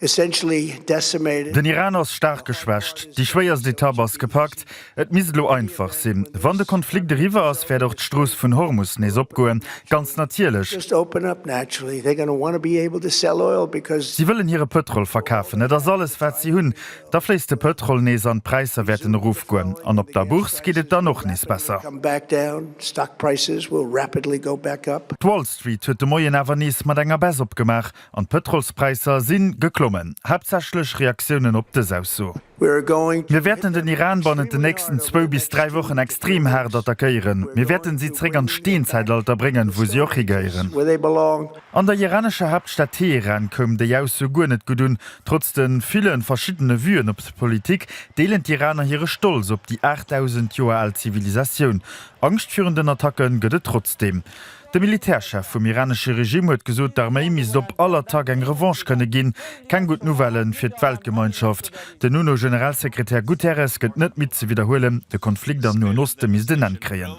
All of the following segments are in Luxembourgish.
Den Iran ass staark geschwächt. Déi schwéierst Etapp ass gepackt. Et misst elo einfach sinn. Wann de Konflikt eriwwer ass, wäert och d'Strooss vun Hormus nees opgoen. Ganz natierlech. Si wëllen hire Pëtrol verkafen. Et ass alles, wat si hunn. Da fléisst de Pëtrol nees an d'Präisser wäerten erofgoen. An op der Bourse geet et dann och nees besser. D'Wall Street huet de Moien awer nees mat enger Baisse opgemaach an d'Pëtrolspräisser si geklommen. Haaptsächlech Reaktiounen op dës Ausso. Mir wäerten den Iran bannent den nächsten zwou bis dräi Wochen extrem haart attackéieren. Mir wäerten si zeréck an d'Steenzäitalter bréngen, wou si och higehéieren. An der iranescher Haaptstad Teheran koum déi Ausso guer net gutt un. Trotz de ville verschiddene Vuen op d'Politik, deelen d'Iraner hire Stolz op déi 8.000 Joer al Zivilisatioun. Angscht virun den Attacke gëtt et trotzdeem. De Militärchef vum iranesche Regime huet gesot, d'Arméi misst op all Attack eng Revanche kënne ginn. Keng gutt Nouvelle fir d'Weltgemeinschaft. Den UNO-Generalsekretär Guterres gëtt net midd ze widderhuelen, de Konflikt am Noen Oste misst en Enn kréien.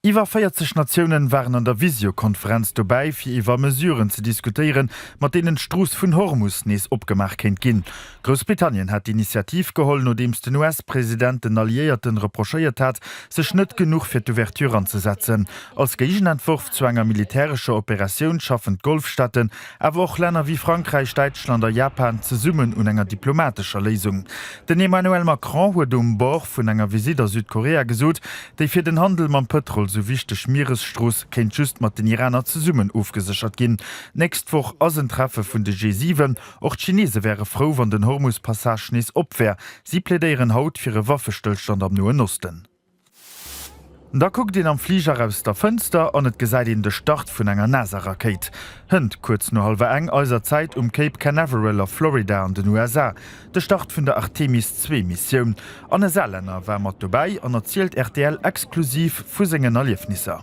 Iwwer 40 Natioune waren an der Visiokonferenz dobäi, fir iwwer Mesuren ze diskutéieren, mat deenen d'Strooss vun Hormus nees opgemaach kéint ginn. Groussbritannien hat d'Initiativ geholl, nodeems den US-President den Alliéierten reprochéiert hat, sech net genuch fir d'Ouverture anzesetzen. Als Géigenentworf zu enger militärescher Operatioun schaffen d'Golfstaaten, awer och Länner wéi Frankräich, Däitschland a Japan zesummen un enger diplomatescher Léisung. Den Emmanuel Macron huet um Bord vun enger Visitt a Südkorea gesot, déi fir den Handel mam Pëtrol sou wichteg Mieresstrooss kéint just mat den Iraner zesummen ofgeséchert ginn. D'nächst Woch ass en Treffe vun de G7. Och d'Chinese wäre frou, wann den Hormus-Passage nees op wär. Si plädéieren haut fir e Waffestëllstand am Noen Osten. Da kuckt een am Fliger aus der Fënster an et gesäit een de Start vun enger NASA-Rakéit. Hënt kuerz no hallwer eng eiser Zäit um Cape Canaveral a Florida an den USA. De Start vun der Artemis-II-Missioun. An e Saarlänner war mat dobäi an erzielt rtl exklusiv vu sengen Erliefnisser.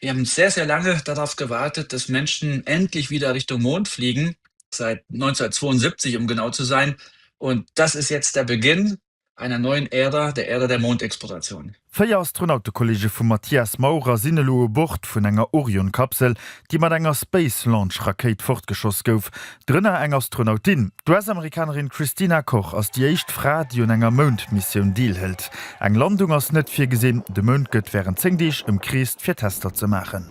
Wir haben sehr, sehr lange darauf gewartet, dass Menschen endlich wieder Richtung Mond fliegen, seit 1972, um genau zu sein, und das ist jetzt der Beginn einer neuen Ära, der Ära der Mondexploration. Véier Astronautekolleege vum Matthias Maurer sinn elo u Bord vun enger Orion-Kapsel, déi mat enger Space Launch Rakéit fortgeschoss gouf, Drënner eng Astronautin. D'US-Amerikanerin Christina Koch ass déi éischt Fra, déi un enger Moundmissioun deelhëlt. Eng Landung ass net virgesinn, de Mound gëtt wärend 10 Deeg ëmkreest, fir Tester ze maachen.